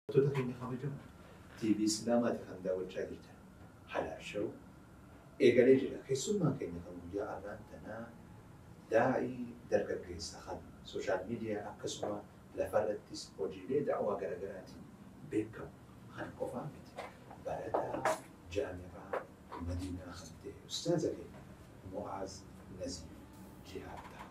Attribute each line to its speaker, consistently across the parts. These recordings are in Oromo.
Speaker 1: Daawwattoota keenya kabajamoo TV Islaamaati kan daawwachaa jirtan Halaal Show eegalee jira. Keessummaan keenya kan guyyaa arraan tanaa daa'ii dargaggeessa kan social media akkasuma lafarrattis hojiilee da'waa garagaraatiin beekamu kan qofaa miti. Barataa Jaami'aa Madiinaa kan ta'e Ustaaza keenya Mu'aaz Naziif Jihaad ta'a.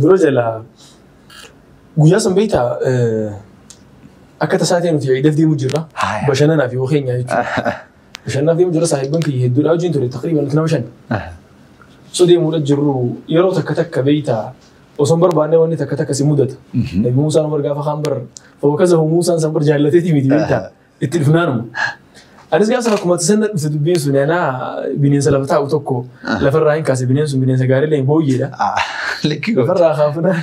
Speaker 2: Dura jalaa guyyaa san beektaa akka tasaa ta'e nuti ciidaf deemu jirra. Haaya. Bashannanaaf yoo keenya jechuudha. Bashannanaaf deemu jirra saahibban kiyya hedduudha wajjin ture taqriiban nuti nama shan. So deemuudha jirru yeroo takka takka beektaa osoo hin barbaanne wanni takka takka si mudata. Nabi Muusaan Umar gaafa kaan bar fawwakazahu Muusaan san bar jaallateeti miti beektaa. Itti dhufnaanuma. Anis gaafa sana akkuma sana dhufte dubbiin sun anaa bineensa lafa taa'u tokko lafarraa hin kaase bineensi sun bineensa gaarii leen booyyeedha. Ah, Likki goota.
Speaker 3: Lafarraa kaafnaan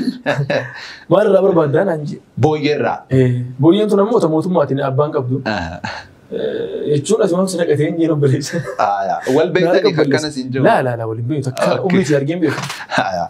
Speaker 2: maalirraa barbaaddaa naan jee. Booyyeerraa.
Speaker 3: Eh, Booyyeen tun
Speaker 2: ammoo ta mootummaatiin abbaan qabdu. Ah, Eh, Jechuun asuma si naqatee hin jiru baleessa. ah, Wal beektanii
Speaker 3: akkanas hin jiru. Laa laa laa waliin beektu akka
Speaker 2: Okay. umriitti argeen beeku. Ah,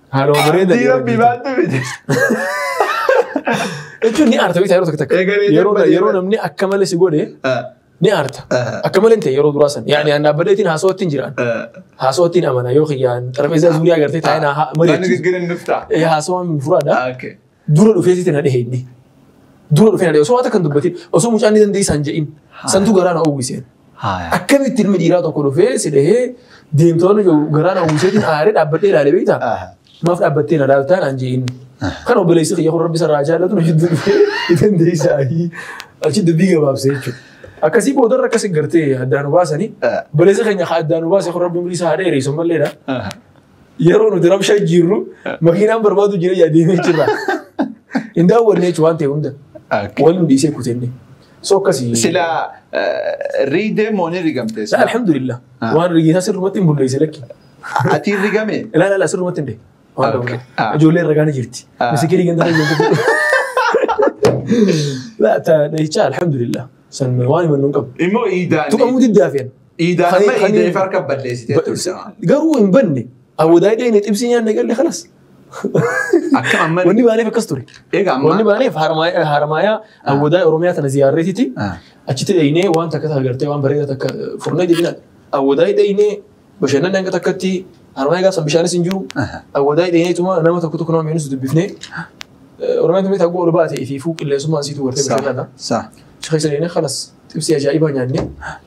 Speaker 2: Haaluma bareeda Abdii rabbii baattu miti.
Speaker 3: Jechuun
Speaker 2: ni aarta beektaa yeroo tokko takka. Eegalee Yeroo darbate yeroo irra. namni akka malee si godhe Ah, ni aarta. ah, Akka malee hin ta'e yeroo duraa san. Yaani aan dhaabbateetiin haasawatti hin jiraan. ah. Haasawatti hin amana yoo kiyyaan xarbeessaa zuuriyaa gartee taa'ee naa Waan mari'achiisu. gaggeeran nuftaa.
Speaker 3: Eh, Haasawaan furaadha.
Speaker 2: Ah, okay. Dura
Speaker 3: dhufee sitti na
Speaker 2: dhehe inni. Dura dhufee na dhehe. Osoo waan takka hin dubbatin. Osoo mucaan ni dandeessaa hin jedhin. Santu garaa na uwwiseen. Haaya. Akkamitti ilmi dhiiraa tokko dhufee si dhehee deemtoonni jiru garaa na uwwiseetiin aaree dhaabbadhee ilaalee beektaa? Aha. Maaf dhaabbattee na laaltaa naan jee inni. Kan obboleessi kiyya kun rabbi sarraa jaallatu na hedduu dhufee ni dandeessaa. Achi dubbii gabaabsee jechuudha. Akkasii boodarra akkasi gartee addaan nu baasanii Ah. obboleessi keenya haa addaan nu baase kun rabbi umrii isaa haa dheereessu malleedha. Aha. Yeroo nuti rabshaa jirru makiinaan barbaadu jira yaa deemee jirra. Hin daawwanne jechuun waan ta'e hunda. Okay. Waliin dhiisee kutenne. So akkasii. Sila eh,
Speaker 3: riidee moo ni rigamte? Sa alhamdulillah. Ah.
Speaker 2: Waan rigeessaa sirrumatti hin bulleesse lakki. Ati rigame?
Speaker 3: Ilaa ilaa sirrumatti hin dee.
Speaker 2: Waan Okay. qabna. Ah. Ijoollee irra gaana jirti. Ah. Misikii rigantaa hin jirtu. Laa ta dhahicha alhamdulillah. San waan himannu hin qabu. Immoo iidaan. Tuqamuu
Speaker 3: diddaa fe'an.
Speaker 2: Iidaan Kan- amma kan-
Speaker 3: iidee fi harka balleessitee turte. Garuu hin
Speaker 2: banne. Awwadaa iddoo inni xibsii nyaanne galle kanas. Akka amma Wanni baaneef akkas ture. egaa Wanni amma baaneef harmaaya harmaaya awwadaa Oromiyaa tana ziyaarreetiti. Ah. Achitti dheeynee waan takka takka gartee waan bareedaa takka furnee jennaan awwadaa dheeynee bashannanni hanga takkatti harmaaya gaafsan bishaanis hin jiru. Aha. Awwadaa dheeynee tuma nama tokko tokko nama miidhus dubbifnee Oromiyaan tumee taggoo ol baate fi fuu qilleensummaan siitu gartee bashannanaa. Sa. Achi keessa dheeynee
Speaker 3: kanas
Speaker 2: xibsii ajaa'ibaa nyaannee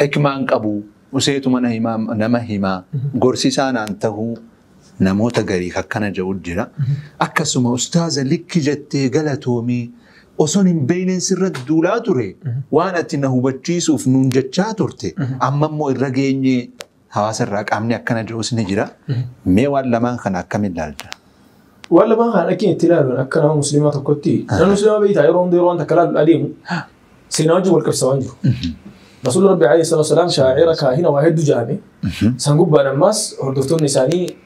Speaker 3: Hikmaan qabu useetuma na himaa nama himaa gorsisaa naan tahuu namoota gariif akkana ja'u jira. Akkasuma ustaaza likki jettee galatoomii oson hin beeyneen sirra duulaa ture waan ati na hubachiisuuf nuun jechaa turte amma immoo irra geenyee Hawaasa irraa qaamni akkana jiruus ni jira. Mee waan lamaan kana akkamiin ilaalta? Waan lamaan
Speaker 2: kana dhaqeen itti ilaaluun akka nama musliimaa tokkotti nama musliimaa beektaa yeroo hunda yeroo waan takka ilaaluun adeemu seenaa wajjin wal qabsiisaa waan jiru. Rasuulli Rabbi alayhi salaatu wasalaam shaa'ira kaahina waa hedduu jaame san gubbaan ammaas hordoftoonni isaanii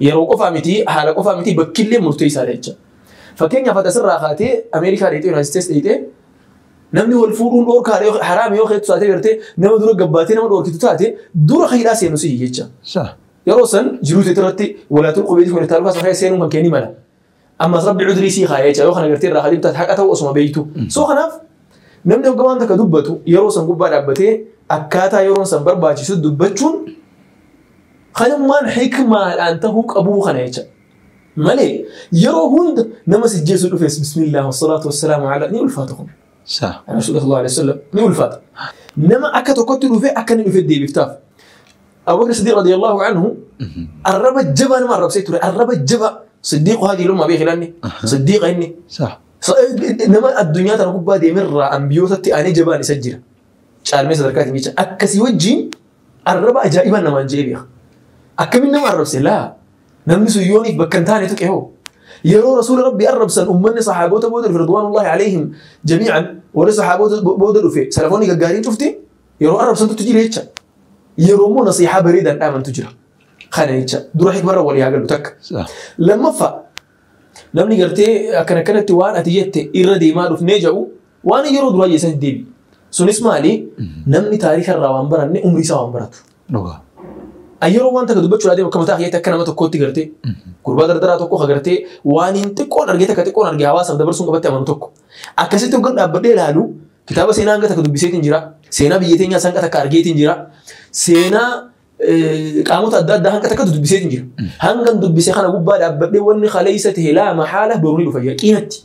Speaker 2: Yeroo qofaa miti, haala qofaa miti, bakkillee murteessaadha jecha. Fakkeenyaaf ati asirraa kaatee Ameerikaa dheexee Yunaayitid Isteets dheexee namni wal fuudhuun dhoorkaadha yoo haraami yoo keetu taatee gartee nama dura gabbaatee nama dhoorkitu taate dura hidhaa seenu sihi jecha. Yeroo san jiruu teetirratti walaatul qubeetii kun irtaalukaa sana keessa seenuun kan kee ni mala. Ammas rabbi cudrii sii kaa'ee jecha yoo kana gartee irraa kadhibtu ati haqa ta'u osuma beektu. So kanaaf namni hoggaa waan takka dubbatu yeroo san gubbaa dhaabbatee akkaataa yeroon san barbaachisu dubbachuun kanummaan hikmaadhaan ta'uu qabuu kana jecha. Malee yeroo hunda nama si jeessu dhufes bismillah wassalaatu wassalaamu ala ni ulfaata kun. Sa. Rasuulli sallallahu alaihi wasallam ni ulfaata. Nama akka tokkotti dhufe akka inni dhufe deebiftaaf. Abu Bakr Siddiq radiyallahu anhu arraba jabaa nama arrabsee ture arraba jabaa Siddiq haati ilma beeki lanni Siddiq inni صح nama addunyaa tana gubbaa deemerraa ambiyootatti aanee jabaan isa jira. Caalmee sadarkaatiin jecha akkasii wajjin arraba ajaa'ibaa namaan jee beeka. Akkamiin nama arrabse laa namni sun yooniif bakka hin taane tuqe hoo. Yeroo rasuula rabbi arrabsan uummanni sahaabota booda dhufe ridwaanullahi alayhim jamiican warri sahaabota booda dhufe salafoonni gaggaariin cufti yeroo arrabsantutti jira jecha. Yeroo immoo nasiihaa bareedaan dhaamantu jira. Kana jecha dura hikmarra walii haa galu takka. Sa- Lammaffaa namni gartee akkan akkanatti waan ati jette irra deemaa dhufnee jedhu waan yeroo duraa jeessan deebi. Sunis maali namni taariika irraa waan baranne umrii isaa waan baratu. Dhugaa. An yeroo waan takka dubbachuu adeemu akka mataa keetti akka nama tokkootti gartee gurbaa dardaraa tokko ka gartee waan hin xiqqoon argee takka xiqqoon argee hawaasaaf dabarsuun qabatti amanu tokko. Akkasitti hoggan dhaabbadhee ilaalu kitaaba seenaa hanga takka dubbiseetiin jira. Seenaa biyya teenyaa hanga takka argeetiin jira. Seenaa eh, qaamota adda addaa hanga takka dubbiseetiin jira. Hangan dubbise kana gubbaa dhaabbadhee wanni kaleessa ta'e laa mahaala boru ni dhufa yaqiinatti.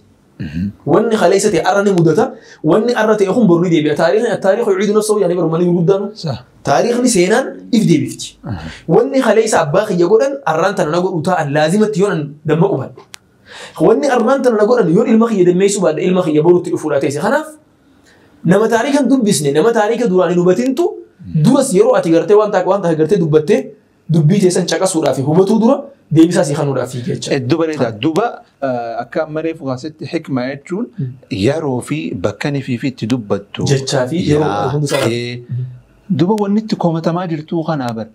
Speaker 2: Wanni kaleessa ta'e arra ni mudata. Wanni arra ta'e kun boru ni deebi'a. Taariikhni taariikhni yuciidu nafsahu yaani barumanii gurguddaan Sah. taariikhni seenaan if deebifti. Wanni kaleessa abbaa kiyya godhan arraan tana na godhu ta'an laazimatti yoon damma qubadhe. Wanni armaan tana na godhan yoon ilma kiyya dammeessuu baadhe ilma kiyya borutti dhufuudha teesse. Kanaaf nama taariika hin dubbisne nama taariika duraan hin hubatintu duras yeroo ati gartee waan ta'a waan ta'a gartee dubbattee dubbii teessan caqasuudhaaf hubatuu dura deebisaa si kanuudhaaf fiiga jecha. Eddu bareeda. Duba
Speaker 3: akka ammaree fukaasitti hikma jechuun yeroo fi bakka nifii fi itti dubbattu. Jechaa fi yeroo
Speaker 2: hunda isaa- Yaa'ee
Speaker 3: Duba wanni itti komatamaa jirtuu kanaa bar.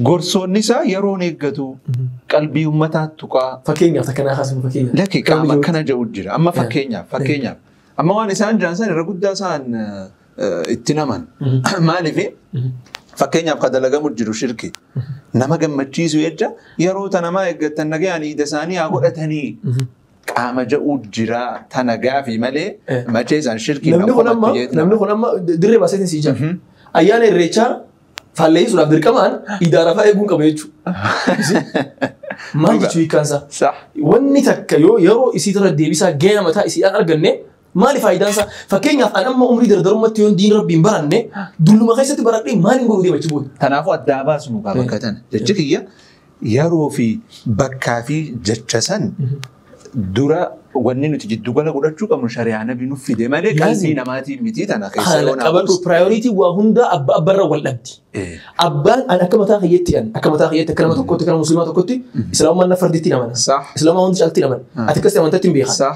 Speaker 3: Gorsoonni isaa yeroon eeggatuu qalbii ummataa tuqaa. Fakkeenyaaf takka naa kaasuu
Speaker 2: fakkeenyaaf. Lakki qaama akkana
Speaker 3: jedhu jira. Amma fakkeenyaaf fakkeenyaaf. Amma waan isaan jiran san irra guddaa isaan eh, itti naman. Maaliif fakkeenyaaf ka dalagamu jiru shirki. Nama gammachiisu jecha yeroo tanamaa eeggatan nagayaan iida isaanii haa godhatanii. qaama ja'uu jiraa tana gaafii malee Eh. machee isaan shirkii
Speaker 2: Namni kun amma
Speaker 3: namni kun
Speaker 2: amma dirree baaseetiin sii jira.
Speaker 3: Ayyaana
Speaker 2: irreechaa faalleessuudhaaf dirqamaan idaara fa'aa eeguun qaba jechuudha. Maal Dhugaa. jechuu hiikkaansaa? Sax. Wanni
Speaker 3: takka
Speaker 2: yoo yeroo isii irra deebisaa gahee mataa isii dhaan arganne Maali faayidaan isaa? Fakkeenyaaf an amma umrii dardarummatti yoon diin rabbiin baranne dulluma keessatti baradhee maaliin godhu deema achi booda? Kanaafuu addaa baasnu
Speaker 3: kaa bakka tana. Jechi kiyya yeroo fi bakkaa fi jecha san dura wanni nuti jiddu gala godhachuu qabnu shari'aa nabi nuuf fide malee Laazim. qalbii namaatiin miti tana keessa Haala yoo qabadhu naaf
Speaker 2: priority waa hundaa abba abbarra wal dhabdi. Eh. Abbaan an akka mataa kiyyetti an akka mataa kiyyetti akka nama tokkotti akka nama musliimaa tokkotti islaamummaan na farditti namana. Sah. Islaamummaa hundi caalatti
Speaker 3: namana.
Speaker 2: Ah. Ati akkasii amantatti hin beekan. Sah.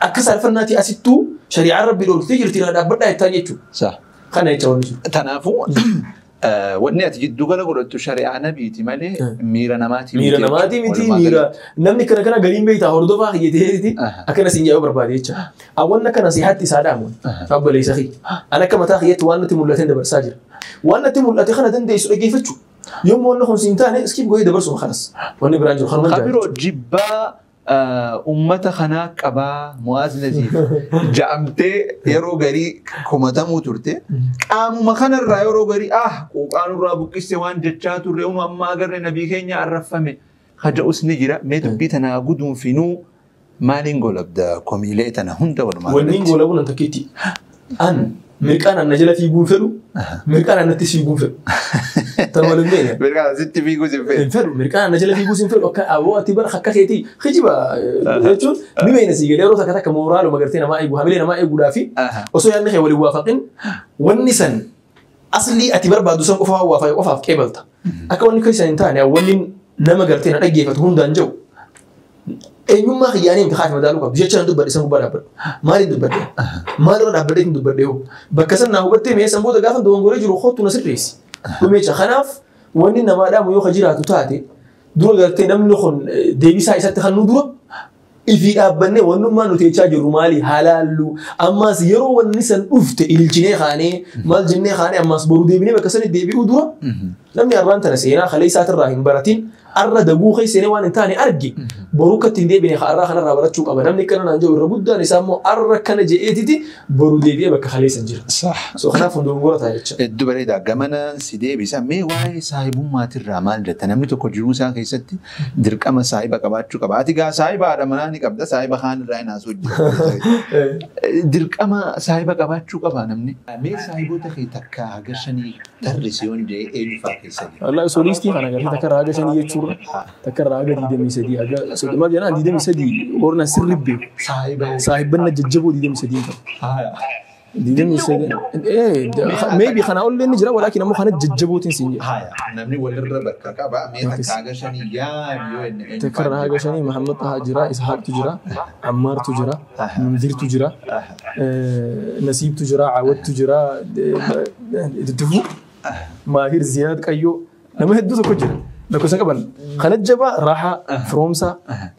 Speaker 3: Akka
Speaker 2: saalfannaati asittuu shari'aan rabbi dhoorgitee jirti irraa dhaabbadhaa jettaan jechuudha. Saah. Kana jecha
Speaker 3: wanni jiru.
Speaker 2: Kanaafuu eh,
Speaker 3: wanni ati jiddu gala godhattu shari'aa nabiiti malee Eh. miira namaati Miira jechuudha. namaatii miti Walumaa miira
Speaker 2: galatti. namni kana kana galiin beektaa hordofaa kiyyateeti Aha. akkana siin jaa'uu barbaade jecha. Awwanna kana sihaatti isaa dhaamu abboleessa kiyya. An akka mataa kiyyatti waan natti mul'ateen dabarsaa jira. Waan natti mul'ate kana dandeessu dhaggeeffachuu. Yommuu wanna kun siin taane iskiif goyee dabarsuma kanas. Wanni biraan jiru kanuma Ka jaalatu. biroo jibbaa
Speaker 3: Ummata kanaa qabaa Mu'aaz Najiif ja'amtee yeroo garii komatamuu turte. Qaamuma kanarraa yeroo garii ah quuqaa nurraa buqqiste waan jechaa turre unu amma agarre nabii keenya arraffame haja'us ni jira. Mee dubbii tanaa guduunfinuu maaliin golabda komiilee tana hunda walumaa Wanniin galatti. goolabuun an takkitti.
Speaker 2: An mirqaan anna jala fiiguu hin fedhu. Mirqaan annatti siiguu hin fedhu. Tan wal hin beekne. Mirgaa sitti fiiguu sin
Speaker 3: fedhu. Hin fedhu mirqaan anna jala
Speaker 2: fiiguu sin fedhu akka aboo ati bara akka keetii kijiba jechuun ni beekna sii galee yeroo takka takka mooraaluma gartee namaa eegu hamilee namaa eeguudhaa fi osoo yaadni kee waliin waafaqin wanni san Aslii ati barbaaddu san qofa waan waafaa qofaaf qeebalta. Akka wanni keessan hin taane wanni nama gartee na dhaggeeffatu hundaan jiru. Eenyummaa kiyyaanii miti haati madaaluu qabdu jecha nan dubbadhe san gubbaa dhaabbadhu. Maaliif dubbadhe? Maalirra dhaabbadhe isin dubbadhe hoo? Bakka san naa hubattee mee san booda gaafa dogongoree jiru kottu na sirreessi. Dhumeecha kanaaf wanni namaa dhaamu yoo ka jiraatu taate dura gartee namni kun deebisaa isatti kan nu dura Ifii dhaabbannee wannummaan nuti jechaa jirru maali halaalluu ammaas yeroo wanni san dhufte ililchinee kaanee maal jennee kaanee ammaas boru deebinee bakka sanitti deebi'uu dura namni arraan tana seenaa kalee isaatirraa hin baratin arra daguu keessanii waan hin taane arge boru akka ittiin deebine ka arraa kanarraa barachuu qaba namni akkana naan jedhu irra guddaan isaa immoo arra kana je'eetiti boru deebi'ee bakka kalee san jira. Saah. So kanaaf
Speaker 3: hundumgora ta'a
Speaker 2: jecha. Hedduu bareeda. Gamanaan
Speaker 3: si deebisa. Mee waa'ee saahibummaatirraa maal jetta? Namni tokko jiruu isaa keessatti Dirqama saahiba qabaachuu qaba. Ati gaa saahiba haadha manaa ni qabda, saahiba kaan irraa hin haasoo jirtu. Dirqama saahiba qabaachuu qaba namni. Mee saahiboota kee takka haga shanii tarrisi yoon jee eenyu fa'aa keessa jira? Wallah osoo liistii kana
Speaker 2: gartee takka irraa haga shanii jechuurra takka irraa haga digdamii sadii haga soddoma jenaan digdamii sadii warna sirri beeku. Saahiba. Saahibbanna jajjaboo digdamii sadii hin qabu. Haaya. Digdamii sagal. Eh, da- maybe kana ollee ni jira walaakin ammoo kana jajjabootiin siin jedha. Haya, namni walirra
Speaker 3: bakka qaba. Mee Yookiis- takka haga shanii yaad yoo inni eenyu Takkarra faana haga shanii
Speaker 2: Mahammad Tahaa jira, Ishaaqtu jira, Ammaartu jira, Munzirtu jira, eh, Nasiibtu jira, Caawattu jira, Duddufu, Maahir Ziyaad Qayyoo, nama hedduu tokko jira. Lakkoofsa qaban. Kana jabaa Raahaa, Firoomsaa,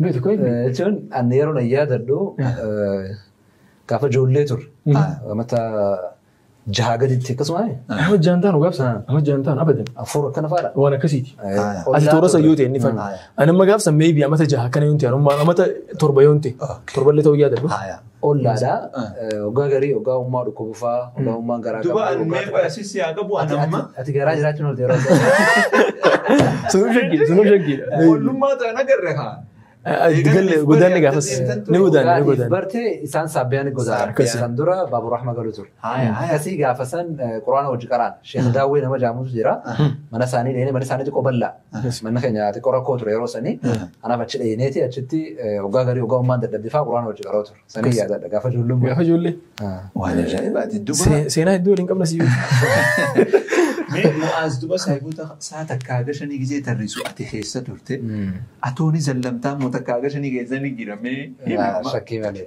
Speaker 2: Beektu koo inni.
Speaker 4: Jechuun ani yeroo na yaadadhu gaafa ijoollee turre mata jahaa gaditti akkasuma Nama jaan taanu gaaf sana
Speaker 2: nama jaan taanu abadan. afur akkana faadha. Waan
Speaker 4: akkasiiti.
Speaker 2: Ati toora sayyoo ta'e inni fana. Ani amma gaaf sana meebii amata jaha akkana yoon ta'e amata torba yoon ta'e torba illee ta'uu yaadadhu. Ollaadha.
Speaker 4: Oggaa garii, oggaa ummaa dhukkubu faa, oggaa ummaan garaa qabu. Duba an mee qoya sissi
Speaker 3: haa qabu an amma. Ati garaa jiraachuun olte yeroo
Speaker 4: ta'u. Sunuu shaggii,
Speaker 3: sunuu shaggii. Ollummaa
Speaker 2: ta'an
Speaker 3: agarre haa. Galle
Speaker 2: godaanni gaafas ni godaanni ni godaanni. Barte isaan
Speaker 4: saabbiyaan godaa. Akkasi. Kan dura baabur rahma galu ture. Haaya, haaya. Akkasii gaafa san quraana wajji qaraan. Sheekh Daawwee nama jaamutu jira. Mana isaanii dheenee mana isaanii xiqqoo bal'aa. Manni keenya xiqqoo rakkoo ture yeroo sanii. Kanaaf achi dhayneeti achitti waggaa garii waggaa ummaan dadhabde fa'aa quraana wajji qaroo ture. Sanii yaadadha gaafa ijoollee ummaa. Gaafa ijoollee.
Speaker 2: Waan ajaa'ibaati.
Speaker 3: Duba See- Seenaa hedduu waliin qabna
Speaker 2: siyyuu. mee
Speaker 3: mu'aaz duba saahiboota isaa takkaa haga shanii gisee tarrisu ati keessa turte. Atooni zallamtaa moo takkaa haga shanii keessa ni jiramee. Shakkii malee.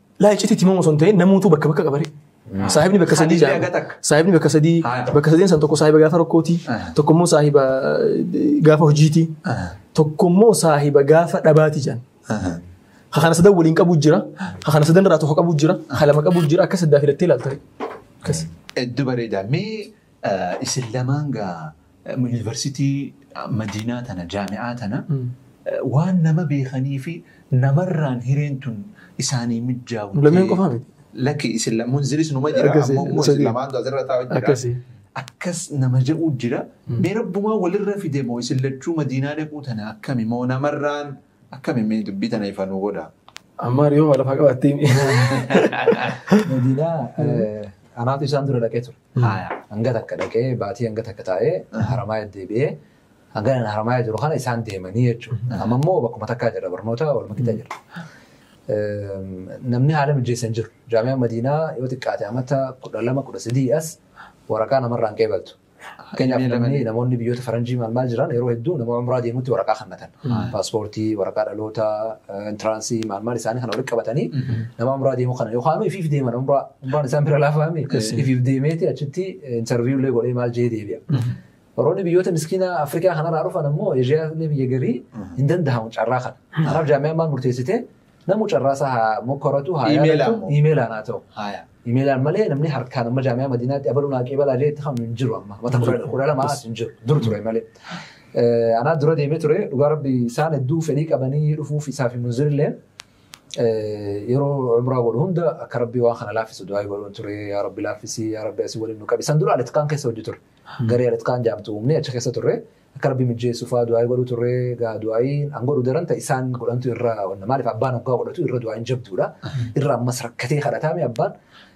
Speaker 3: Laa iccitii timamu
Speaker 2: osoo hin ta'in namuutuu bakka bakka qabare. Saahibni bakka sadii Hadiisni jaama. aga takka. Saahibni bakka sadii Haa. bakka sadeen san tokko saahiba gaafa rakkooti. Ah. Tokko immoo saahiba eh, gaafa hojiiti. Tokko immoo saahiba gaafa dhabaati jedhan. Ka kana sadan waliin qabu jira. Ka kana sadan irraa tokko qabu jira. Ka lama qabu jira. Akka saddaa filattee ilaaltare. Akkas. Hedduu bareedaa.
Speaker 3: Mee eh, isin lamaan gaa University madiinaa tana jaami'aa tana waan nama beekaniifi namarraan hireen tun isaanii mijjaawu Nu lameen qofaa miti.
Speaker 2: Lakki isin la-
Speaker 3: munziris numa jira Akkasi, ammoo immoo isin sadii. lamaantu asirra taa'u jira. Akkasi. Akkas nama ja'uu jira. Mee rabbumaa walirra fide moo isin lachuu madiinaa dhaquu tana akkami moo namarraan akkami mee dubbii tana ifa nuu godha. Ammaa riyoo waa lafaa
Speaker 2: qabattee. Madiinaa
Speaker 4: anaatu isaan dura dhaqee ture. Haaya. Hanga takka dhaqee baatii hanga takka taa'ee Haramaaya deebi'ee hanga ani Haramaaya jiru kana isaan deemanii jechuudha. Amma immoo bakkuma takkaa jira barnoota waluma qixa jira. Eem, Namni haala mijeessan jiru. Jaamiyaan Madiinaa yoo xiqqaate amata kudha lama kudha sadii as waraqaa namarraa hin qeebaltu. Fakkeenyaaf Inni namni lamanii. namoonni biyyoota faranjii maal maal jiran yeroo hedduu nama umraa deemutti waraqaa kannatan. Paaspoortii, waraqaa dhalootaa, intiraansii maal maal isaanii kana walitti qabatanii nama umraa deemuu kana yookaan ifiif deeman umraa Gurbaan isaan bira laafaa mi? Ifiif deemeeti achitti interview illee godhee maal jee deebi'a. Warroonni biyyoota miskiina Afrikaa kanarraa dhufan ammoo Eeshiyaa illee biyya garii hin danda'amu carraa kana. Kanaaf jaamiyaan maal murteessite namu carraa isaa haa mokkoratu haa Imeela yaadatu ammoo. imeelaan haa ta'u. Haaya. Imeelaan malee namni harkaan amma jaamiyaa madiinaatti abaluu naa qeebalaa jee itti hamu hin jiru amma. Mata kudha- kudha lama as hin jiru. Dur ture malee. Eh, Anaa dura deemee ture dhugaa rabbi isaan hedduu fedhii qabanii dhufuuf isaa fi munzirilleen yeroo umraa godhu hunda akka rabbii waan kana laaffisu du'aa godhuun ture yaa rabbi laaffisii yaa rabbi asii waliin nu qabi san dura alitkaan keessa hojii ture garee alitkaan jaamtu uumnee achi keessa turre akka rabbi mijjeessu faa du'aa godhu turre gaa du'aayiin an godhu daran ta isaan godhantu irra wanna maaliif abbaan hoggaa godhatu irra du'aayiin jabduudha irra ammas rakkatee kadhataame abbaan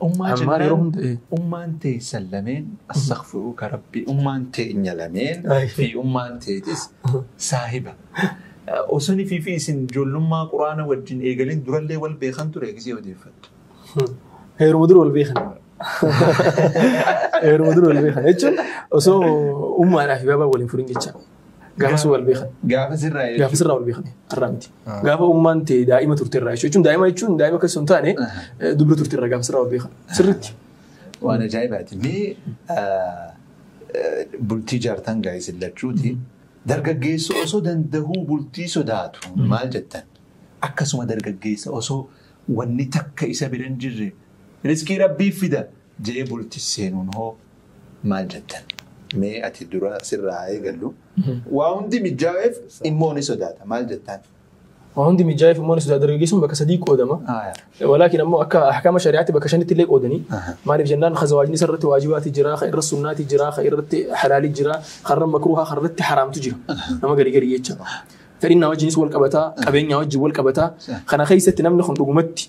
Speaker 2: Ummaa Ammaa jennaan yeroo hunda, eh. ummaan
Speaker 3: teessan lameen astaghfiruuka rabbii ummaan teenya lameen Ay. fi ummaan teetis saahiba. Eh, Osoni fi fi isin ijoollummaa quraana wajjin eegalin durallee wal beekan ture gisee odeeffattu.
Speaker 2: Heeruma dura wal beekan. Heeruma dura wal beekan jechuun osoo ummaadhaa fi baabaa waliin furin jecha. Gaafas wal beekan. Gaafas irraa jechuudha. Gaafas irraa wal beekan. Har'aa miti. Ah. Gaafa ummaan tee daa'ima turte irraa jechuudha. Jechuun daa'ima jechuun daa'ima keessa hin taane Ah. eh, dubra turte irraa gaafas irraa wal beekan. Sirriitti. Waan
Speaker 3: ajaa'ibaati. Mee ah, eh, bultii jaartan gaa'is illachuuti. Dargaggeessa osoo danda'uu bultii sodaatu maal jettan? Akkasuma dargaggeessa osoo wanni takka isa bira hin jirre riskii rabbii fida jee bultii seenuun hoo maal jettan? Mee ati dura sirraa haa eegallu. Waa hundi mijjaaweef immoo ni sodaata. Maal jettaan? Waa hundi
Speaker 2: mijjaaweef immoo ni sodaata dargaggeessuun bakka sadii qoodama. Walaakin ammoo akka ahkama shari'aatti bakka shanitti illee qoodanii. Maaliif jennaan ka zawaajni isa irratti waajibaati jira, ka irra sunnaati jira, ka irratti halaali jira, ka irra makruuhaa, ka irratti haraamtu jira. Nama gari gari jecha. Fedhinnaa wajjinis wal qabataa, qabeenyaa wajjin wal qabataa. Kana keessatti namni kun dhugumatti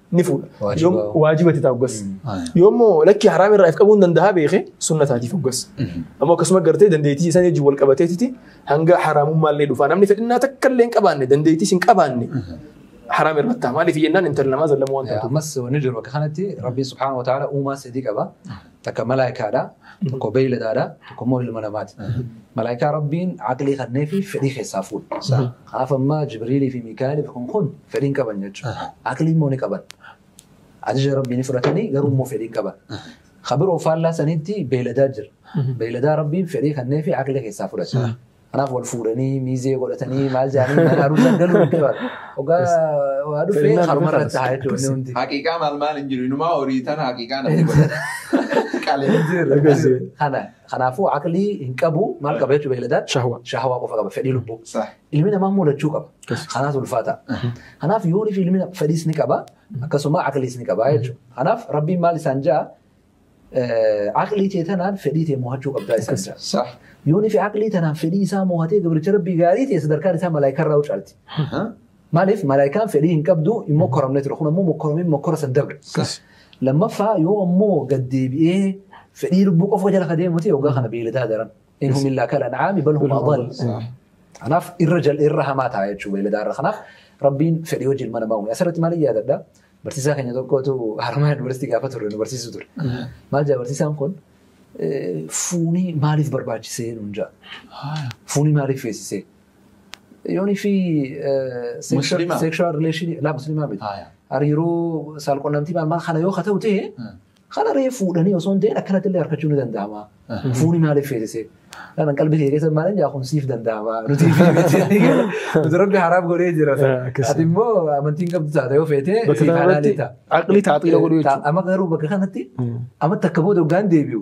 Speaker 2: ni fuudha. Waajiba. Yoom- Waajiba itti ta'a hoggas. Yoommoo lakki haraam irraa if qabuu hin danda'a beeke sunna taatiif hoggas. Ammoo akkasuma gartee dandeettii isaan wajjin wal qabateetiti hanga haraamummaa illee dhufaa namni fedhinnaa takka illee hin qabaanne dandeettii hin qabaanne haraam irra ta'a maaliif jennaan intala namaa zallama waan ta'eef. Ammas wanni jiru bakka
Speaker 4: kanatti Rabbiin subhaanahu wa ta'aala uumaa sadii qaba. Takka malaayikaadha, tokko beeyladaadha, tokko immoo ilma namaati. Malaayikaa Rabbiin aqlii kannee fi fedhii keessaa fuudha. Kanaaf amma Jibriilii fi Miikaa'el fi kun kun fedhii hin qaban jechuudha. Aqlii immoo ni qaban. Ajaja Rabbii ni fudhatanii garuu immoo fedhii hin qaban. Kabiroo faallaa sanitti beeyladaa jira. Beeyladaa Rabbiin fedhii kannee fi aqlii keessaa fudhata. Kanaaf wal fuudhanii miizee godhatanii maal jedhanii mana haruusan galuu hin qaban. Ogaa waa dhufee Seenaan haruma dhumarra irratti haa jechuun inni hundi. Haqiiqaa maal
Speaker 3: maal hin jiru. Inumaa horii tana haqiiqaa namni godhata. Qalee. Akkasii.
Speaker 4: Kana kanaafuu aqlii hin qabu maal qaba jechuudha beeyladaan Shahwa. shahawaa qofa qaba fedhii lubbuu. Saah. Ilmi namaa immoo
Speaker 3: lachuu
Speaker 4: qaba. Akkasii. Kanaaf ulfaata. Kanaaf yoonii fi ilmi fedhiis ni qaba akkasuma aqliis ni qaba jechuudha. Kanaaf rabbiin maal isaan ja'a eh, aqlii tee tanaan fedhii tee moohachuu qabdaa isaan Akkas. jedhan. Sah. Yoon ifi
Speaker 3: aqlii
Speaker 4: tanaan fedhii isaa moohatee gabricha rabbii gaarii ta'e sadarkaan isaa malaayikaa irraa caalti. Aha. Maaliif malaayikaan fedhii hin qabdu hin mokkoramne ture kun ammoo mokkoramee mokkora san darbe. Sah. Lammaffaa yoo ammoo gad deebi'ee fedhii lubbuu qofa jala ka deemu ta'e waggaa kana beeyladaa daran. In hum illaa kal an'aami bal hum adall. Sah. Kanaaf irra jal irra hamaa ta'a jechuudha beeyladaa irra. Kanaaf rabbiin fedhii wajjin ilma namaa uume. Asirratti maal yaadadha? Barsiisaa keenya tokkotu harmaa yuunivarsiitii gaafa turre nu barsiisu ture. Maal jaa barsiisaan kun fuunii maaliif barbaachisee nuun jaa? Fuunii maaliif feesisee? Yoonii fi sekshuwaal rileeshinii laa musliimaa miti. Hariiroo saalqunnamtii maal maal kana yoo ka ta'u ta'e Kana ree fuudhanii osoo hin ta'in akkanatti illee harkachuu ni danda'ama. Fuuni maaliif feesisee? Kanan qalbii kee keessa maaliin jaa kun siif danda'ama. Nuti nuti rabbi haraam godhee jira. Ati immoo amantiin qabdu taate yoo feete siif halaali ta'a. Aqli taaxiila godhu
Speaker 2: jechuudha. Amma garuu bakka kanatti
Speaker 4: amma takka booda hoggaan deebi'u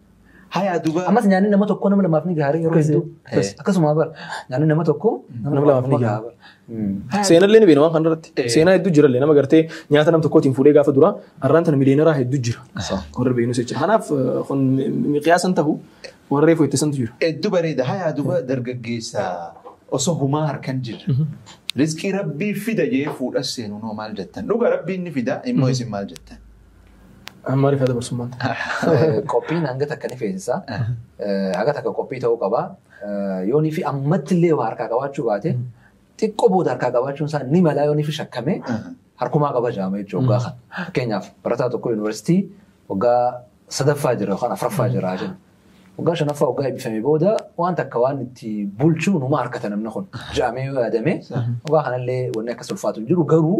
Speaker 2: Hayaa duba.
Speaker 3: Ammas nyaanni nama tokkoo nama
Speaker 4: lamaaf ni gahaara yeroo hedduu. Akkasuma bara nyaanni nama tokkoo nama lamaaf ni
Speaker 2: gahaara. Seenaa illee ni beekna waan kanarratti. Seenaa hedduu jira illee nama gartee nyaata nam tokkootiin fuudhee gaafa dura har'aan tana miliyooneraa hedduu jira. Warri beeknus jechuudha. Kanaaf kun miqiyaasan tahu warree foyyattasantu jira. Hedduu bareeda. Hayaa
Speaker 3: duba dargaggeessa osoo humaa harkan jirra. Rizqii rabbii fida jee fuudhas seenuu noo maal jettan. Dhuga rabbiin ni fida immoo isin maal jettan. Amma
Speaker 2: rifata dabarsummaan ta'a. Qophiin
Speaker 4: hanga takka ni feesisa. Haga takka qophii ta'uu qaba. Yoonii fi ammatti illee waa harkaa qabaachuu baate xiqqoo booda harkaa qabaachuun isaa ni malaa yoonii fi shakkamee harkumaa qaba jaama jechuudha waggaa kana. Fakkeenyaaf barataa tokko yuunivarsiitii waggaa sadaffaa jira yookaan afraffaa jira jenna. Waggaa shanaffaa waggaa eebbifame booda waan takka waan itti bulchu numa harkata namni kun. Jaamee yoo yaadame waggaa kanallee wanni akkas ulfaatu hin jiru garuu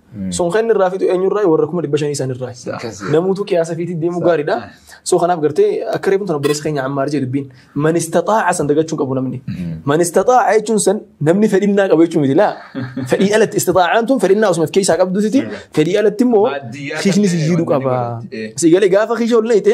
Speaker 2: Sun kan inni irraa fitu eenyurraa warra kuma dhibba shanii isaanirraa. Akkasii. Namuutu qiyaasa fiitii deemuu gaariidha. So kanaaf gartee akka reefuun tana obboleessa keenya ammaar jedhu dubbiin man istaxaaca san dagachuun qabu namni. Man istaxaaca jechuun san namni fedhinnaa qabu jechuun miti laa. Fedhii alatti istaxaacaan tun fedhinnaa osuma of keessaa qabduuti fedhii alatti immoo Baadiyyaa kiisni si qabnee jiidhu qaba. baratee. Si galee gaafa kiisha ol leeyte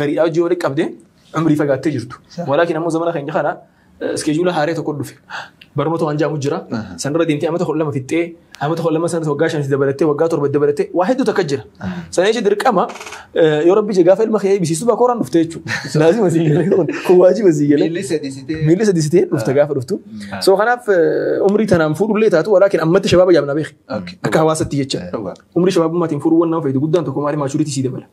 Speaker 2: gariidhaa hojii walitti qabdee umrii fagaattee jirtu. Sa- Walaakin ammoo zamana keenya kana iskeejuula haaree tokko dhufe. Barnoota waan jaamu jira. Aha. Sanarra deemtee amata kudha lama fixxee amata kudha lama sanas waggaa shanis dabalattee waggaa torba dabalattee waa hedduu takka jira. Sana jechuun dirqama eh, yoo rabbi gaafa ilma kee eebbisiisu bakka horaan dhufte jechuudha. Laazima sii galee kun kun waajiba sii galee. Miilli sadii sitee. Miilli sadii sitee dhufte gaafa dhuftu. Ah. So kanaaf eh, umrii tanaan fuudhullee taatu walaakin ammatti shabaaba jaamna beeki. Okay. Akka hawaasatti jecha. Dhugaa. Umrii shabaabummaatiin fuudhuuwwan nama fayyadu guddaan tokko maali maachuriitii sii dabala.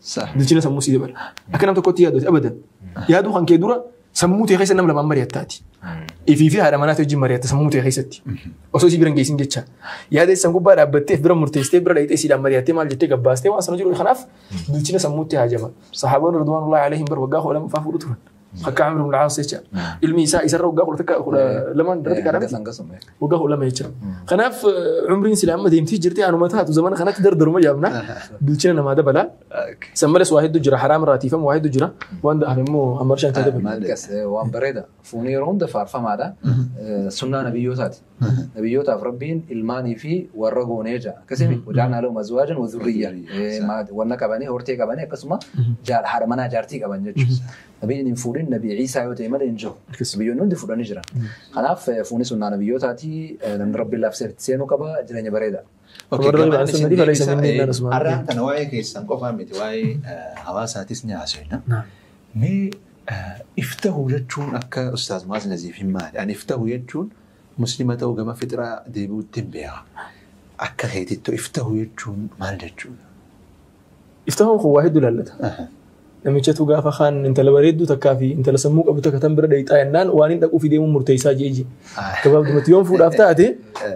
Speaker 2: Sah. bilchina sammuu sii dabala. Akka nam tokkotti yaadoote abadan. Yaaduu kan kee dura sammuu tee keessa nam lamaan mari'attaati. Ifii fi haadha manaa tee wajjin mari'atta sammuu tee keessatti. Osoo isii bira hin geessin jecha. Yaada isaan gubbaa dhaabbatteef bira murteessitee bira dhaqxee siidhaan mari'attee maal jettee gabbaastee waan sana jiru kanaaf bilchina sammuutti haajama. Sahaabaan Ridwaanullahi Aleehim bar waggaa kudha lamaffaa fuudhu turan. Akka Amir ibn Aas jecha. Ilmi isaa isarra waggaa kudha takka kudha lamaan irratti kadhame. Waggaa kudha lama jecha. Kanaaf eh, umriin sila amma deemtii jirti anuma taatu zamana kanatti dardaruma yaabna. Bilchina namaa dabala. San malees waa hedduu jira haraam irraa tiifama waa hedduu jira. Waan da'an immoo amma bishaan isaa dabala. Waan bareeda.
Speaker 4: Fuunii yeroo hunda faarfamaadha. Sunnaa nabiyyootaati. Nabiyyootaaf Rabbiin ilmaanii fi warra goonee ja'a. Akkasii miti. Wajaanaa lahum azwaajan wa zurriyya. Wanna qabanii, hortee qabanii akkasuma haadha manaa jaartii qaban jechuudha. Nabiin hin fuudhin nabii Ciisaa yoo ta'e malee hin jiru. Nabiyyoonni hundi fuudhanii jiran. Kanaaf fuuni sunnaa nabiyyootaatii namni Rabbiin laafseef itti seenuu qaba jireenya bareeda. Okay, Warra gabaabni baasan isin
Speaker 2: malee fala isa deebisaa. minnee Eh, naan Usmaan. Har'aan tana waa'ee keessan
Speaker 3: qofaa miti waa'ee eh, hawaasaatis ni haasofna. Naam. Mee eh, iftahu jechuun akka Ustaaz Mu'aaz Naziif hin maali. Ani iftahu jechuun muslima ta'uu gama fixraa deebi'uutti hin beeku. Akka keetittu iftahu jechuun maal jechuudha?
Speaker 2: Iftahuun kun waa hedduu laallata. Namichatu gaafa kaan intala bareedduu takkaa fi intala sammuu qabu takka tan bira dhayxaa jennaan waan hin dhaquu fi deemuun murteessaa jee jee. Gabaabdumatti yoon fuudhaaf taate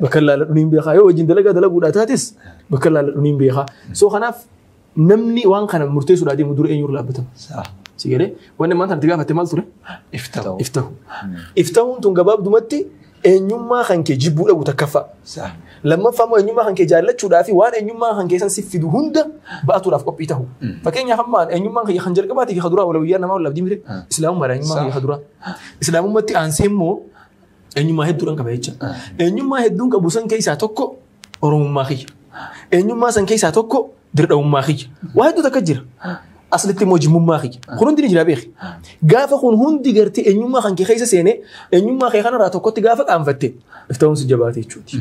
Speaker 2: bakka laalladhu niin beekaa yoo wajjin dalagaa dalaguudhaa taates bakka laalladhu niin beekaa. So kanaaf namni waan kana murteessuudhaa deemu dura eenyuurra laabbatama. Si galee wanni maanta itti gaafatte maal ture? Iftahu. Iftahuun tun gabaabdumatti Eenyummaa kan kee jibbuu dhabu takkaffaa. Sa. Lammaffaa immoo eenyummaa kan kee jaallachuudhaa fi waan eenyummaa kan keessan siif fidu hunda ba'atuudhaaf qophii ta'u. Mm. Fakkeenyaaf amma eenyummaan kiyya kan jalqabaatii fi kan duraa walawiyyaa namaa wal abdii mire Ah. islaamummaa dha eenyummaa Sa. kiyya kan duraa. Islaamummaatti aansee immoo eenyummaa hedduudhaan qaba jecha. Ah. Eenyummaa hedduun qabu san keessaa tokko Oromummaa kiyya. Eenyummaa san keessaa tokko dirqamummaa kiyya. Waa hedduu takka jira. Aslitti immoo jimmummaa kiyya. Kun hundi ni jira beeki. Gaafa kun hundi gartee eenyummaa kan kee keessa seenee eenyummaa kee kanarraa tokkotti gaafa qaanfatte iftaa'uun si jabaate jechuuti.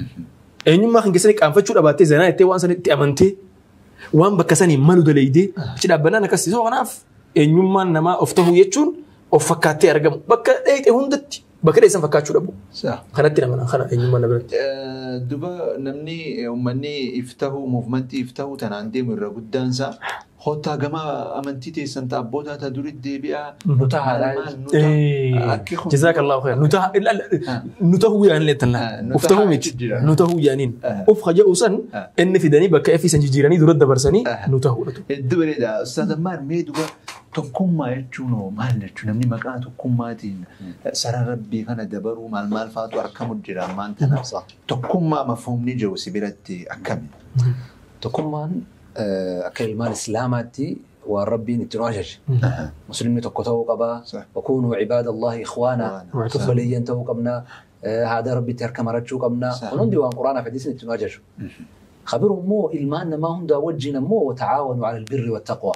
Speaker 2: Eenyummaa kan keessatti qaanfachuu dhabaattee zanaa jettee waan sanitti amantee waan bakka sanii malu daleeydee achi dhaabbannaan akkasii. So kanaaf eenyummaan namaa of tahuu jechuun of fakkaattee argamu. Bakka dheeyxe hundatti Bakka dheessan fakkaachuu dhabu. Sa. Kanatti nama kana eenyummaa na biratti. Eh, Duba
Speaker 3: namni eh, uummanni if tahu muuvimentii if tahu tanaan deemu irra guddaan isaa hottaa gama amantii teessan ta'a abbootaa ta'a durii deebi'aa Nu ta'a haadhaa.
Speaker 4: maal nu ta'a
Speaker 2: akki kun Jazaakallahu khayr. Nu ta'a illa- illa- nu ta'uu yaaniin leettan Ah, laata. nu Of ta'uu ta'aa miti. jechuun jira. Nu ta'uu yaaniin. Ah. Of haja'u san Ah. inni fidanii bakka effisan jijjiiranii dura dabarsanii Ah. nu ta'uudha. Hedduu bareeda.
Speaker 3: Ustaaz Ammaan mee duba Tokkummaa jechuun hoo maal jechuu? Namni maqaa tokkummaatiin sara Rabbii kana dabaruu maal maal faatu arkamu jira ammaan tana? Tokkummaa mafhuumni jiru si biratti akkami? Tokkummaan
Speaker 4: akka ilmaan Islaamaatti waan Rabbiin itti nu ajaje. Muslimni tokko ta'uu qaba. Wakuunuu cibaada Allahi ikhwaana. Obboleeyyan ta'uu qabna. Haada Rabbitti harka marachuu qabna. Kun hundi waan Qur'aanaaf hadiisni itti nu ajaju. Kabiru immoo ilmaan namaa hundaa wajjin ammoo wata'aawanu ala albirri wattaqwa.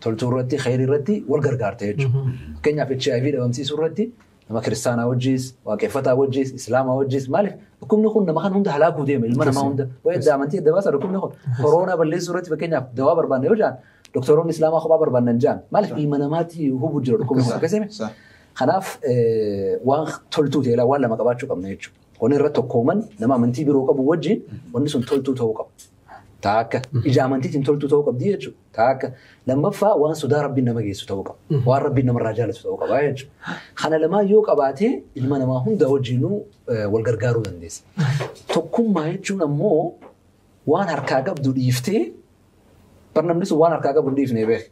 Speaker 4: Toltuu irratti khayri irratti wal gargaarta jechuudha. Fakkeenyaaf HIV dhabamsiisuu irratti nama kiristaanaa wajjis, waaqeffataa wajjis, islaamaa wajjis maaliif dhukkubni kun nama kan hunda halaakuu deema ilma namaa hunda. Waa'ee adda amantii adda baasa dhukkubni kun koroonaa balleessuu irratti fakkeenyaaf dawaa barbaanna yoo jedhan doktoroonni islaamaa kophaa barbaannan jedhan maaliif ilma namaatti hubuu jira dhukkubni kun akkasii Kanaaf waan toltuu ta'e waan lama qabaachuu qabna jechuudha. Wanni irra tokkooman nama amantii biroo qabu wajjin wanni sun toltuu ta'uu qaba. Taa akka ija amantiitiin toltuu ta'uu qabdi jechuudha. Taa akka lammaffaa waan sodaa rabbiin nama geessu ta'uu qaba. Waan rabbiin namarraa jaalatu ta'uu qaba jechuudha. Kana lamaan yoo qabaatee ilma namaa hunda wajjinuu wal gargaaruu dandeessa. Tokkummaa jechuun ammoo waan harkaa qabdu dhiiftee Bar namni sun waan harkaa qabu hin dhiifne beek.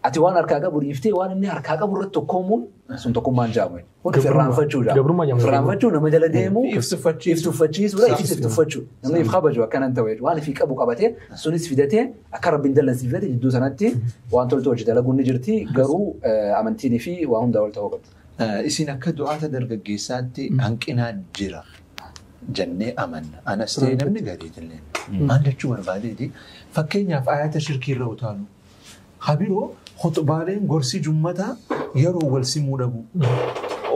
Speaker 4: Ati waan harkaa qabu dhiiftee waan inni harkaa qabu irratti tokkoomuun sun tokkummaan jaamu. Kun of irraanfachuu jaamu. Gabrummaa jaamu. Of irraanfachuu nama jala deemuu. If tuffachiisuu. If tuffachiisuu. If Saafisuu. tuffachuu. Namni if kabaju akkanan ta'u jechuudha. Waan ifi qabu qabatee sunis fidatee akka rabbiin dallansiifate jidduu sanatti waan toltu hojii dalaguun ni jirti garuu eh, amantiin fi waa hundaa ol ta'uu qabdi. Eh, Isin akka
Speaker 3: du'aata dargaggeessaatti hanqinaa jira. jennee amanna. Anas ta'e namni garii jennee amanna. Maal jechuu barbaadeeti? Fakkeenyaaf ayata shirkii irra utaalu. Habiroo khuxbaaleen gorsi jummataa yeroo wal simuu dhabu.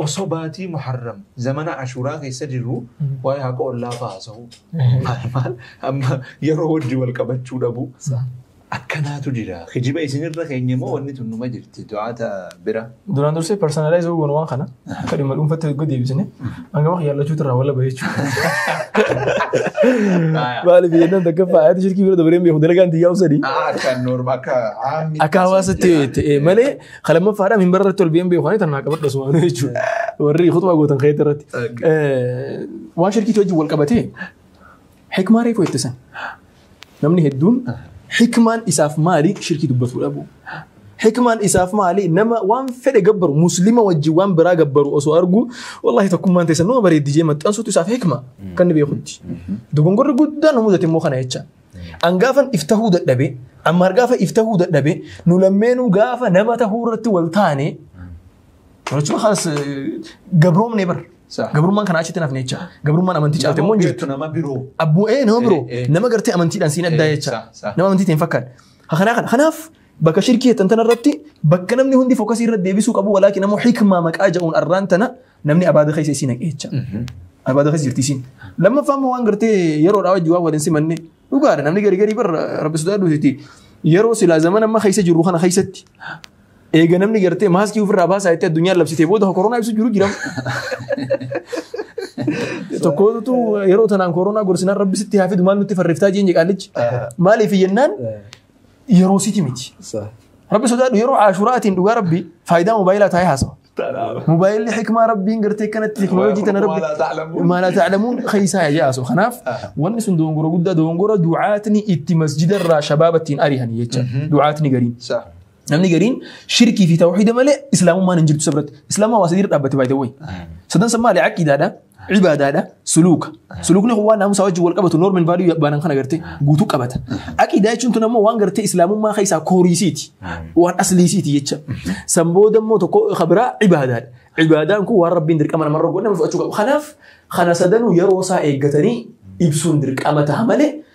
Speaker 3: Osoo baatii muharram zamana ashuuraa keessa jirru waa'ee haqa ollaa fa'aa haasa'u. Maal maal amma yeroo wajji wal qabachuu dhabu. Akkanaatu jira. Kijiba isin irra keenye moo wanni tun numa jirti du'aata bira. Duraan dursee
Speaker 2: personalize yoo goonu waan kana akka dhimma dhuunfatti yoo deebisine hanga maka yaallachuutu irraa wala bahee Aya. Maali biyyannaan takka faayatu shirkii bira dabareen beeku dalagaan tiyyaa usadi. Ah, Akka norm akka
Speaker 3: haammi. Akka hawaasatti yoo jette
Speaker 2: eh, malee kalamaffaadhaan hin bararratti ol biyyan beeku waan tanaa qabadha sumaan jechuudha. Warri kutumaa gootan keetti irratti. Okay. Eh, Waan shirkiitti wajjin wal qabatee Hikmaa reefu jette san. Namni hedduun hikmaan isaaf maali shirkii dubbatuu dhabu. Hikmaan isaaf maali nama waan fedhe gabbaru muslima wajjin waan biraa gabbaru osoo argu wallahi tokkummaan teessan nama bareeddi jee maxxansuutu isaaf hikma kan ni beekutti. Dogongorri guddaan nu mudate immoo kana jecha. An gaafan if tahuu dadhabe ammaar gaafa if tahuu dadhabe nu lammeenuu gaafa nama tahuu irratti wal taane Jechuun haas gabroomne bar. Sa- Gabrummaan kanaa achitti hin hafne jecha. Gabrummaan amantii caalte immoo hin jirtu. Nama biroo. Abbuu
Speaker 3: ee nama biroo
Speaker 2: Eh, eh. nama gartee amantiidhaan siin addaa Eh, jecha. sa- sa. Nama amantii ta'e hin fakkaanne. Ha kanaa kana. Kanaaf bakka shirkii jettan tana irratti bakka namni hundi fookasii irra deebisuu qabu walaakin ammoo hikmaa maqaa ja'uun arraan tana namni abaada keessa isiin haqee jecha. Abaada keessa jirti isiin. Lammaffaa immoo waan gartee yeroodhaa wajjin waan waliin simanne dhugaadha namni gari gari barra rabbi sodaadhuuti. Yeroo silaa zaman amma keessa jirru kana keessatti Eega namni gartee maaskii ofirraa baasaa jettee addunyaan labsitee booda koronaa ibsu jiru jira. Tokkootu yeroo tanaan koronaa gorsinaan rabbi sitti haa fidu maal nutti farreeftaa jeenye qaallichi. Maaliif jennaan yeroo siti miti. Rabbi sodaadhu yeroo ashuraatiin dhugaa rabbi faayidaa moobaayilaa taa'ee haasawa. Moobaayilli hikmaa rabbiin gartee kanatti teknooloojii tana rabbi maalaa taa'lamuun keessaa yaa jaasu. Kanaaf wanni sun dogongora guddaa dogongora du'aatni itti masjidarraa shabaabattiin ari'an jecha du'aatni gariin. Namni gariin shirkii fi tawxiida malee islaamummaan hin jirtu isa biratti. Islaamummaa waa sadiirra dhaabbate baay'ee wayyi. Sadan san maali? Aqiidaadha, ibaadaadha, suluuka. Suluukni kun waan naamusaa wajjin wal qabatu noormin vaaliyuu baanan kana gartee guutuu qabata. Aqiidaa jechuun tun ammoo waan gartee islaamummaa keessaa kooriisiiti. Waan asliisiiti jecha. San booda immoo tokko ka biraa ibaadaadha. Ibaadaan kun waan rabbiin dirqama namarra godhe nama fudhachuu qaba. Kanaaf kana sadanuu yeroo isaa eeggatanii ibsuun dirqama ta'a malee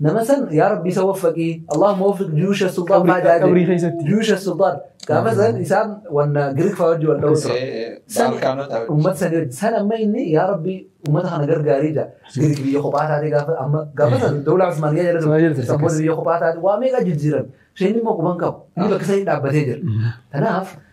Speaker 4: Nama san yaa rabbi isa waffaqii Allahumma waffiq juyuusha sultaan Qabri- baajaa qabrii jedhe. keessatti. Juyuusha sultaan gaafa san isaan wanna Giriik fa'aa wajjin wal dha'u tura. San- Baalkaanota Uummata sanii wajjin san amma inni yaa rabbi uummata kana gargaarii jira. Giriik biyya kophaa taatee gaafa amma gaafa san dawlaa Usmaaniyyaa jala Usmaaniyyaa jala ture. ture. San booda biyya kophaa taatee waa meeqa jijjiiran. Isheen immoo quban qabu. Inni bakka sanii dhaabbatee jira. Kanaaf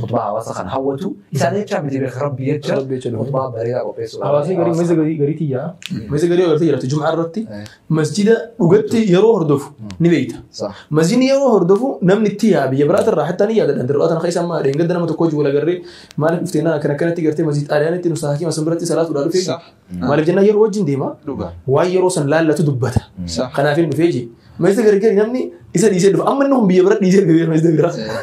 Speaker 4: Khutbaa hawaasa kan hawwatu isaan jecha miti beeka rabbi jecha Rabbi jecha dhufu. khutbaa bareedaa qopheessuu qaba. Hawaasni garii masa garii garii
Speaker 2: tiyyaa. Masa garii agartee jiraatu jum'aa irratti Eh. masjida dhugatti yeroo hordofu ni beekta. Sa- Masjidni
Speaker 4: yeroo hordofu
Speaker 2: namni itti yaa biyya biraati irraa hattaa ni yaadadha. Dirraa tana keessa amma dheengadda nama tokko wal agarree maaliif dhuftee naa akkana akkanatti gartee masjid xaaliyaan itti nusaa hakiima sun biratti salaatuudhaa dhufee Sa- maaliif jennaan yeroo wajjin deema Dhugaa. waan yeroo san laallatu dubbata. Sa- Kanaaf hin dhufee jee. Masjida gargari namni isa dhiisee dhufa. Amma inni kun biyya bira dhiisee dhufe masjida bira. Eh.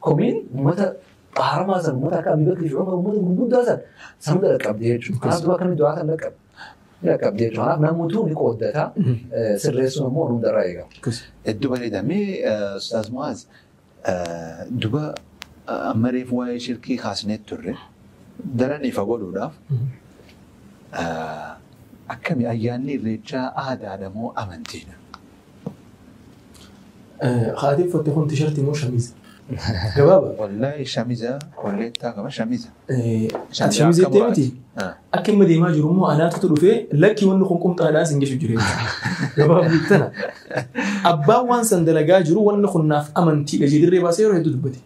Speaker 4: Komiin uummata baaramaa san uummata akka Abibakri fi Umar uummata gurguddaa san sanuu dhaqqabde jechuudha. Kanaaf du'a akkamitti du'aa kan dhaqqabe dhaqqabde jechuudha. Kanaaf namuutuu ni qooddata sirreessuun ammoo hundarraa eegama. Hedduu bareeda.
Speaker 3: Mee Ustaaz Mu'aaz duba amma reefu waa'ee shirkii kaasnee turre daran ifa godhuudhaaf akkami ayyaanni irreechaa aadaadha moo amantiidha?
Speaker 2: Haati uffatte kun tishartii moo shamiiza? Gabaaba. Wallaahi shamiza
Speaker 3: kolleettaa qaba shamiza. Ati shamiiza
Speaker 2: jettee miti? Akka inni deemaa jiru immoo anaatutu dhufee lakkii wanni kun qumxaadhaan sin geshu jira. Gabaabni tana. Abbaan waan san dalagaa jiru wanni kun naaf amantiidha jedhee dirree baasee yeroo hedduu dubbate.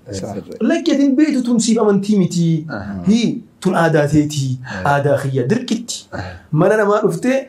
Speaker 2: Lakkii ati hin beektu tun siif amantii miti. Hii tun aadaa teeti. Aadaa kiyya dirqitti. Mana namaa dhuftee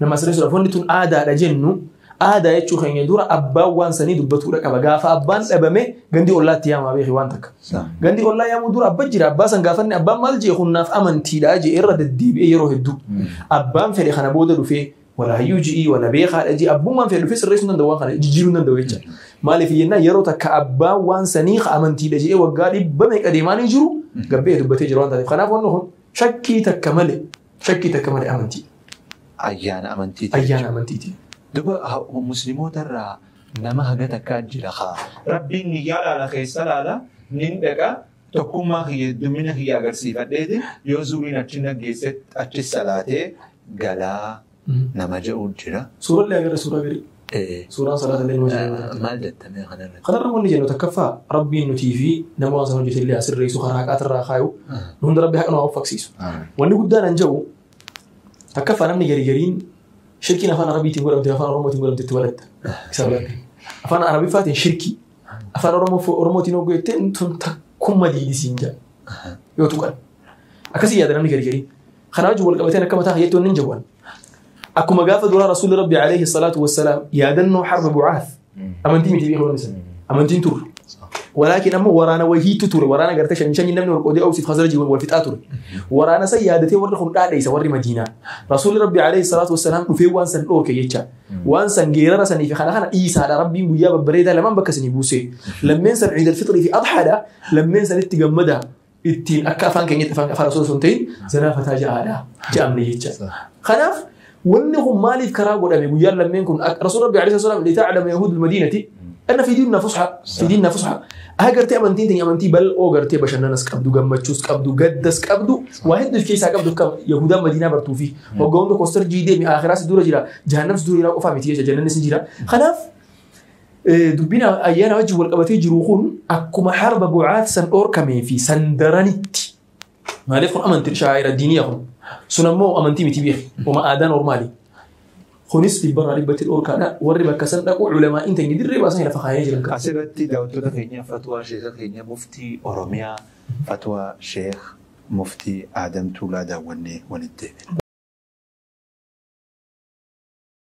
Speaker 2: Nama sirreessuudhaaf wanni tun aadaadha jennu aadaa jechuu keenya dura abbaan waan sanii dubbatuudha qaba. Gaafa abbaan dhabame gandi ollaatti yaamaa beeki waan takka. Gandi ollaa yaamuu dura abba jira abbaa san gaafanne abbaan maal jee kun naaf amantiidha jee irra deddeebi'ee yeroo hedduu. Abbaan fedhe kana booda dhufee wala hayyuu ji'ii wala beekaadha jee abbummaan fedhe dhufee sirreessuu danda'u waan kana jijjiiruu danda'u jecha. Maaliif jennaan yeroo takka abbaan waan sanii ka amantiidha jee waggaa dhibba meeqa deemaa ni jiru gabbee dubbatee jira waan taateef. Kanaaf wanni kun shakkii takka malee Shakkii takka malee amantiidha.
Speaker 3: Ayyaana amantiiti jechuudha. Ayyaana amantiiti. Duba muslimoota irraa nama haga takkaa jira kaa. Rabbiin niyyaa laala keessa laala nin dhaqa tokkummaa kiyya heddumina kiyya agarsiifadheeti yoo zuuriin achi naggeesse achi salaatee galaa. nama ja'u jira. Suurallee agarra suuraa garii.
Speaker 2: Eh, Suuraan salaatallee nama ja'u jira. Maal jettamee kanarratti?
Speaker 3: Kanarra wanni jennu
Speaker 2: takkaffaa rabbiin nutii fi nama waan sana hojjete illee asirreessu karaa haqaatirraa kaayu nu hunda rabbi haqa nu haa uffaksiisu. Wanni guddaan an ja'u takkaffaa namni garii gariin shirkiin afaan arabiitiin godhamte afaan oromootiin godhamte itti balatta. Isa balatta. Afaan arabiffaatiin shirkii afaan Oromoo- oromootiin hogguu jettee tun takkumma diidisiin ja'a yoo tuqan. Akkasii yaada namni garii garii. Kanaa wajjin wal qabateen akka mataa kiyyaatti wanni jawwan. Akkuma gaafa duraa Rasuulli Rabbi alayhi salaatu wassalaam yaadannoo harba bu'aaf amantii miti beekuu isa. Amantiin turre. Walaakin ammoo waraana wahiitu ture. Waraana gartee shan shan namni wal qoodee oofsiif hasara jiru wal fixaa ture. Waraana san yaadatee warri kun dhaadheessa warri Madiinaa. Rasuulli Rabbi alayhi salaatu wassalaam dhufee waan san dhooke jecha. Waan san geerara sanii fi kana kana dhiisaadha. Rabbiin guyyaa babbareedaa lamaan bakka isinii buusee. Lammeen san ciidal fixrii fi adhaadha. Lammeen sanitti gammadaa. ittiin akka afaan keenyatti afaan afaan osoo hin ta'in zanaa fataa ja'aadha ja'amne jecha. Kanaaf wanni kun maaliif karaa godhame guyyaan lammeen kun rasuul rabbi alayhi salaam lita'lama yahuudul madiinati anna fi diinna fusha fi diinna fusha agartee amantiin teenya amantii bal'oo gartee bashannanas qabdu gammachuus qabdu gaddas qabdu waa hedduu of keessaa qabdu akka yahuudaan madiinaa bartuu fi waggaa hunda kostar jiidee mi aakiraas dura jira jahannams dura jira qofaa miti jecha jannannis ni jira kanaaf Dubbiin ayyaana wajjin wal qabatee jiru kun akkuma harba bu'aat san dhoorkamee fi san daranitti. Maaliif kun amantii shaa'ira diiniyaa kun. Sun ammoo amantii miti beeku. Uma aadaan ormaali. Kunis dhibbarraa dhibbatti dhoorkaadha. Warri bakka san dhaqu ulamaa inni ta'e dirree baasanii lafa kaayee jiran. Asirratti daawwattoota keenya
Speaker 3: fatwaa sheeka keenya muftii Oromiyaa fatwaa sheek muftii Aadam Tuulaa daawwannee walitti.